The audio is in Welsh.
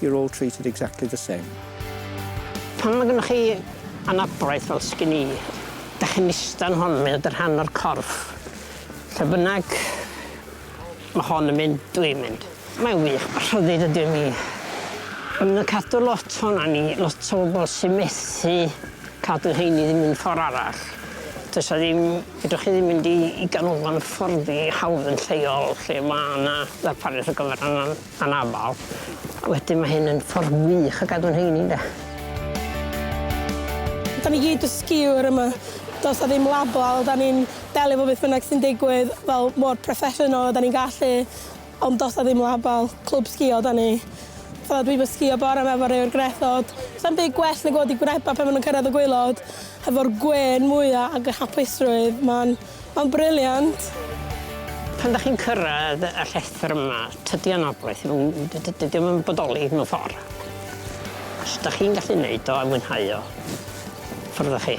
You're all treated exactly the same. Pan mae gennych chi anabledd fel sgin i, dych chi'n ista yn hon, mae o dy rhan o'r corff. Lle bynnag mae hon yn mynd, dwi'n mynd. Mae'n wych, mae rhyddid ydy mi. Yn y cadw lot hon a ni, lot o bobl sy'n methu cadw hyn i ddim un ffordd arall. Does a ddim, fedrwch chi ddim mynd i, i ganolfan hyfforddi hawdd yn lleol lle mae yna ddarpariaeth ar gyfer annan. Anabl. Wedyn mae hyn yn ffordd wych o gadw'n heini ynde? Dan ni gyd y skiwr yma. Does na ddim label, dan ni'n delio efo beth bynnag sy'n digwydd fel mor proffesiynol a dan ni'n gallu ond does na ddim label, clwb sgïo dan ni. Fatha dwi 'fo sgïo bore 'ma efo rei o'r gwrethod. Sa'm byd gwell nag gweld y gwreba' pan ma' nhw'n cyrraedd y gwaelod hefo'r gwên mwya' ac y hapusrwydd, ma'n Mae'n brilliant! Pan dach chi'n cyrraedd y llethr yma, tydi o'n anogaeth, dydi o'm yn bodoli mewn ffor. Os dach chi'n gallu neud o a mwynhau o, ffwrdd â chi.